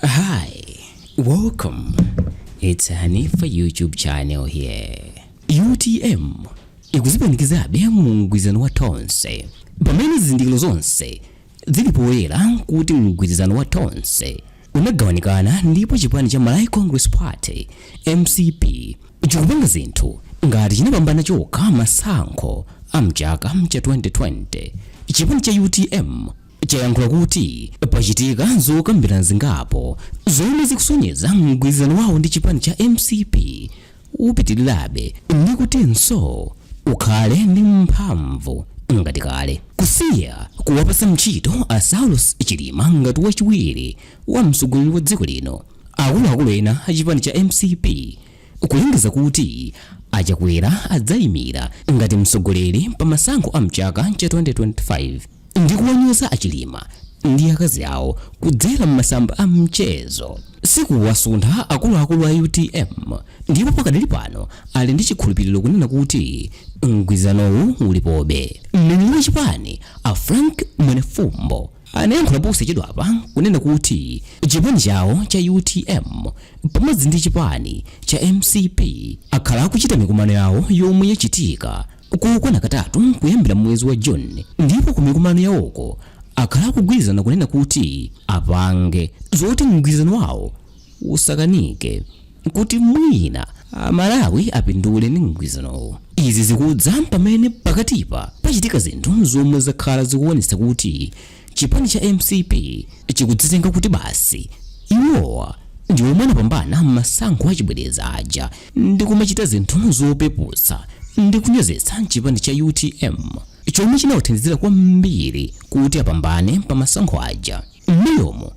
Hi, welcome. It's Hanifa YouTube channel here. UTM ikuzipanikizabe mu mgwirizano wa Tonse pamene zizindikiro zonse zili poyera kuti mgwirizano wa Tonse unagawanikana ndipo chipani cha Malawi Congress Party MCP chikupanga zinthu ngati chinapambana chokha masankho a mchaka cha 2020 chipani cha UTM chayankhula kuti pachitika zokambirana zingapo zomwe zikusonyeza mgwirizano wawo ndi chipani cha mcp upitirirabe ndi kutinso ukhale ndi mphamvu ngati kale kusiya kuwapasa ntchito a saulos chilima ngati wachiwiri wa mtsogoleri wa dziko lino akuluakulu ena a chipani cha mcp kulengeza kuti a Chakwera adzaimira ngati mtsogoleri pa masankho a mchaka cha 2025 ndi kuwanyoza a Chilima ndi akazi awo kudzera m'masamba a mchezo sikuwasuntha akuluakulu a utm ndipo pakadali pano ali ndi chikhulupiriro kunena kuti mgwirizanowu ulipobe mneneri wa chipani a frank mwenefumbo anayankhula posachedwapa kunena kuti chipani chawo cha utm pamodzi ndi chipani cha mcp akhala akuchita mikumano yawo yomwe yachitika kokwana katatu kuyambira mwezi wa june ndipo ku mikumano yawoko akhala akugwirizana kunena kuti apange zoti mgwirizano wawo usakanike kuti mwina Amalawi apindule ndi mgwirizanowu. Izi zikudza pamene pakatipa pachitika zinthu zomwe zakhala zikuonetsa kuti chipani cha mcp chikudzitenga kuti basi iwowa ndi omwe anapambana m'masankho achibwereza aja ndi kumachita zinthu zopeputsa ndi kunyozetsa chipani cha utm chomwe chinawathandizira kwambiri kuti apambane pa masankho aja. M'mbuyomu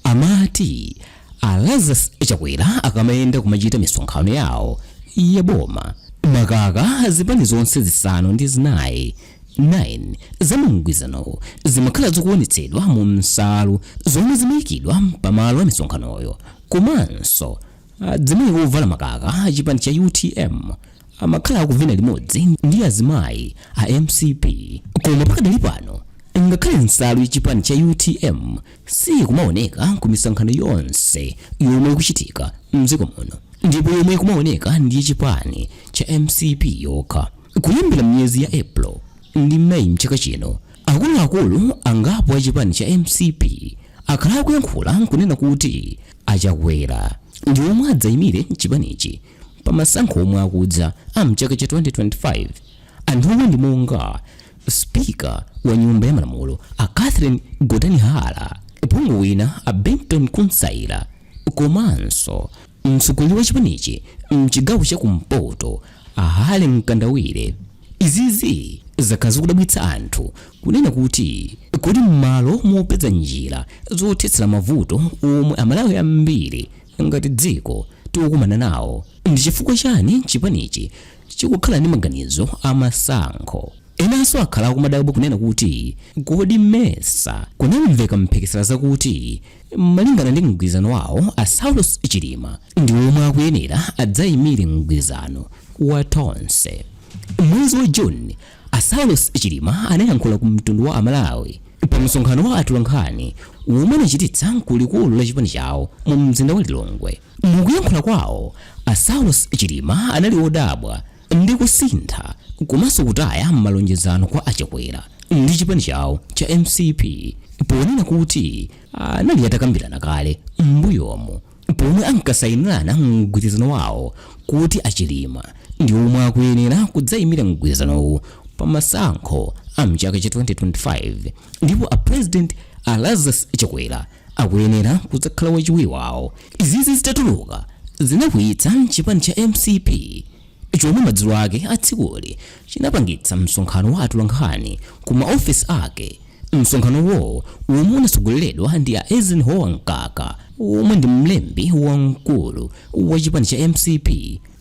amati a Lazarus Chakwera akamayenda kumachita misonkhano yawo ya boma, makaka zipani zonse zisanu ndi zinayi 9 za mu mgwirizanowu zimakhala zikuonetsedwa mu nsalu zomwe zimaikidwa pamalo a misonkhanoyo komanso Adzimayi ovala makaka a chipani cha utm amakhala akuvina limodzi ndi azimayi a mcp koma pakadali pano ngakhale nsalu ya chipani cha utm siyikumaoneka ku misonkhano yonse yomwe ikuchitika mdziko muno ndipo yomwe ikumaoneka ndi ya chipani cha mcp yokha kuyambira miyezi ya april ndi meyi mchaka chino akuluakulu angapo a chipani cha mcp akhala akuyankhula nkunena kuti a Chakwera ndi omwe adzaimire chipanichi pa masankho omwe akudza a mchaka cha 2025. Anthuwa ndi monga spika wa nyumba ya malamulo a Catherine Gotani Hara, phungu wina a Vinton Kunsaila komanso mtsogoleri wa chipanichi mchigawo cha kumpoto A Harry Mkandawire, izizi zakhala zikudabwitsa anthu kunena kuti kodi m'malo mopeza njira zothetsera mavuto omwe Amalawi ambiri ngati dziko tikukumana nawo, ndi chifukwa chani chipanichi chikukhala ndi maganizo a masankho? Enanso akhala akumadabwa kunena kuti kodi mesa kunamveka mphekesera zakuti malingana ndi mgwirizano wawo a Saulos Chilima ndi omwe akuyenera adzaimire mgwirizano wa tonse mwezi wa juni asaulos chilima anayankhula ku mtundu wa amalawi pa msonkhano wa atolankhani womwe anachititsa kulikulu la chipani chawo mu mzinda wa lilongwe mukuyankhula kwawo asaulos chilima anali odabwa ndi kusintha komanso kutaya malonjezano kwa achakwera ndi chipani chawo cha mcp ponena kuti anali atakambirana kale m'mbuyomo pomwe ankasayinirana mgwirizano wawo kuti a Chilima ndi omwe akuyenera kudzayimira mgwirizanowu pa masankho a mchaka cha 2025 ndipo a president a Lazarus Chakwera akuyenera kudzakhala wachiwiri wawo izizi zitatuluka zinakwiyitsa chipani cha mcp chomwe madzulo ake a tsikuli chinapangitsa msonkhano wa atolankhani ku maofesi ake msonkhanowo womwe unatsogoleredwa ndi a eisenhower mkaka womwe ndi mlembi wamkulu wa chipani cha mcp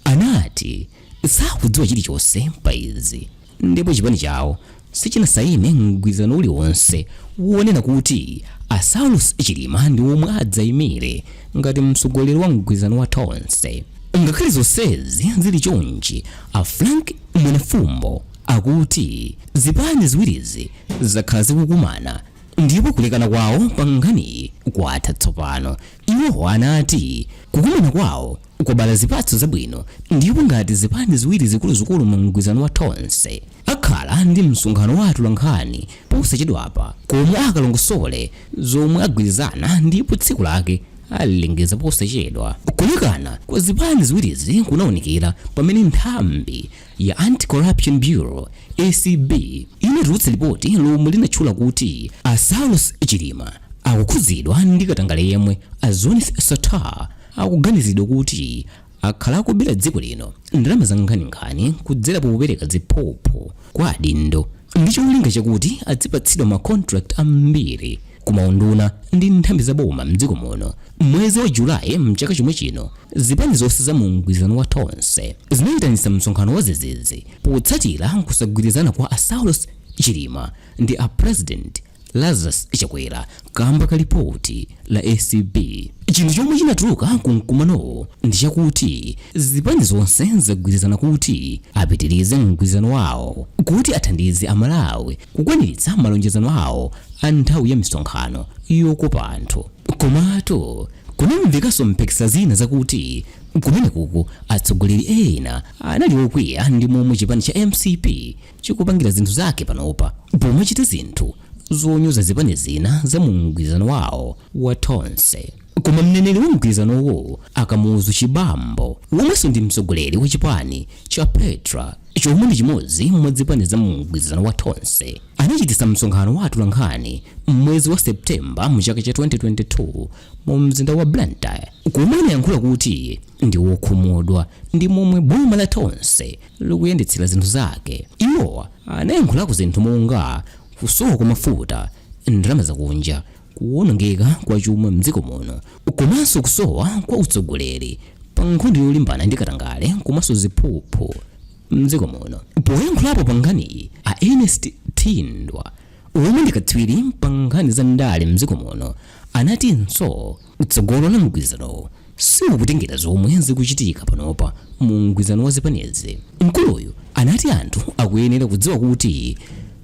anati sakudziwa chilichonse pa izi Ndipo chipani chawo sichinasaine mgwirizano uliwonse wonena kuti a Saulos Chilima ndi omwe adzaimire ngati mtsogoleri wa mgwirizano wa Tonse. Ngakhale zonsezi zili chonchi, a Frank Mwenifumbo akuti zipani ziwirizi zakhala zikukumana ndipo kulekana kwawo pa nkhaniyi kwatha tsopano. Iwo anati kukumana kwawo kwabala zipatso zabwino ndipo ngati zipani ziwiri zikuluzikulu mu mgwirizano wa Tonse akhala ndi msonkhano wa atolankhani posachedwapa komwe akalongosole zomwe agwirizana ndipo tsiku lake alilengeza posachedwa. Kulekana kwa zipani ziwirizi kunawonekera pamene nthambi ya Anti-Corruption Bureau ACB inatulutsa lipoti lomwe linatchula kuti a Saulos Chilima akukhudzidwa ndi katangale yemwe a Zuneth Sattar akuganizidwa kuti akhala akubera dziko lino ndalama za nkhaninkhani kudzera popereka ziphuphu kwa adindo ndi cholinga chakuti adzipatsidwa ma contract ambiri ku maunduna ndi nthambi za boma mdziko muno mwezi wa julayi mchaka chomwe chino zipani zonse za mu mgwirizano wa tonse zinayitanitsa msonkhano w zizizi potsatira kusagwirizana kwa a saulos chilima ndi a president lazarus chakwera kamba ka lipoti la acb chinthu chomwe chinatuluka ku mkumanowo ndi chakuti zipani zonse zagwirizana kuti apitirize mgwirizano wawo kuti athandize amalawi kukwaniritsa malonjezano awo a nthawi ya misonkhano yokopa anthu. Komatu kunamvekanso mphekesera zina zakuti kumenekuku atsogoleri ena anali okwiya ndi momwe chipani cha mcp chikupangira zinthu zake panopa pomachita zinthu zonyoza zipani zina za mu mgwirizano wawo wa Tonse. koma mneneri wa mgwirizanowo a Kamuzu Chibambo womwenso ndi mtsogoleri wa chipani cha petra chomwe ndi chimodzi mwa zipani za mu mgwirizano wa tonse anachititsa msonkhano wa atolankhani m'mwezi wa septemba mu chaka cha 2022 mu mzinda wa blantyre komwe anayankhula kuti ndi wokhumudwa ndi momwe boma la tonse likuyendetsera zinthu zake iwo anayankhulako zinthu monga kusowa kwa mafuta ndalama zakunja kuwonongeka kwa chuma mdziko muno komanso kusowa kwa utsogoleri pa nkhondo yolimbana ndi katangale komanso ziphuphu mdziko muno poyankhulapo pa nkhaniyi a ernest thindwa omwe ndi katswiri pa nkhani za ndale mdziko muno anatinso tsogolo la mgwirizanowo Siukutengera zomwe zikuchitika panopa mu mgwizano wa zipanizi, mkuluyu anati anthu akuyenera kudziwa kuti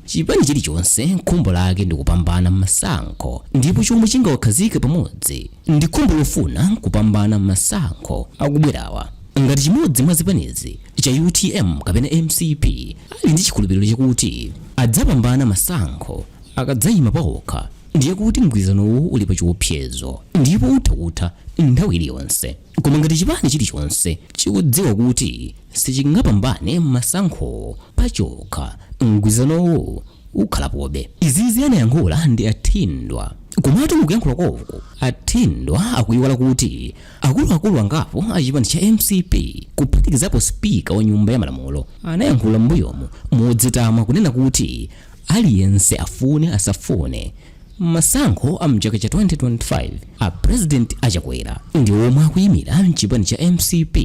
chipani chilichonse khumbo lake ndi kupambana mmasankho ndipo chomwe chingawakhazike pamodzi ndi khumbo lofuna kupambana mmasankho akubwerawa. Ngati chimodzi mwa zipanizi cha utm kapena mcp ali ndi chikhulupiriro chakuti adzapambana masankho akadzayima paokha, ndiye kuti mgwirizanowu uli pa chiopsezo ndipo utha kutha nthawi iliyonse koma ngati chipani chilichonse chikudziwa kuti sichingapambane masankhowo pachokha mgwirizanowu ukhalapobe izizi anayankhula ndi a Thindwa komatu mukuyankhula kwawoko a Thindwa akuyiwala kuti akuluakulu angapo a chipani cha mcp kuphatikizapo spika wa nyumba ya malamulo anayankhula m'mbuyomu modzitama kunena kuti Aliyense afune asafune, masankho a mchaka cha 2025 a President a Chakwera ndi omwe akuyimira mchipani cha mcp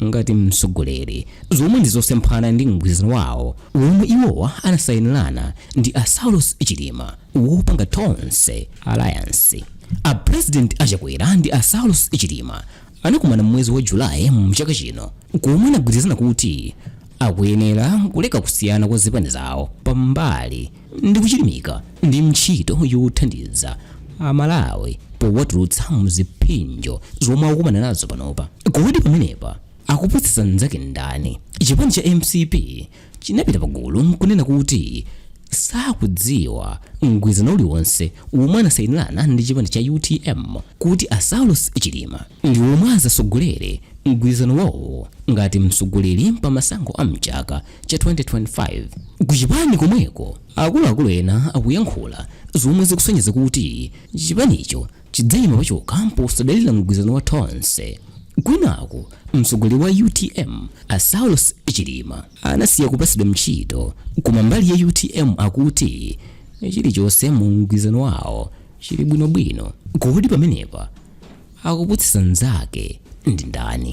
ngati mtsogoleri, zomwe ndi zosemphana ndi mgwirizano wawo womwe iwowa anasayinirana ndi a Saulos Chilima wopanga Tonse Alliance. A President a Chakwera ndi a Saulos Chilima anakomana m'mwezi wa Julayi mchaka chino komwe anagwirizana kuti akuyenera kuleka kusiyana kwa zipani zawo pambali ndi kuchilimika ndi ntchito yothandiza amalawi powatulutsa muzipsinjo zomwe akukumana nazo panopa kodi pamenepa akupusitsa nzake ndani chipani cha mcp chinapita pagulu nkunena kuti sakudziwa mgwirizano uliwonse womwe anasayinirana ndi chipani cha utm kuti a saulos chilima ndi omwe azasogolere mgwirizano wawo ngati mtsogoleri pa masankho a mchaka cha 2025. Ku chipani komweko akuluakulu ena akuyankhula zomwe zikusonyeza kuti chipanicho chidzayima pachokha posadalira mgwirizano wa Tonse. Kwinaku mtsogoleri wa utm a Saulos Chilima anasiya kupatsidwa ntchito koma mbali ya utm akuti chilichonse mu mgwirizano wawo chili bwinobwino. Kodi pamenepa akupusitsa nzake ndi ndani?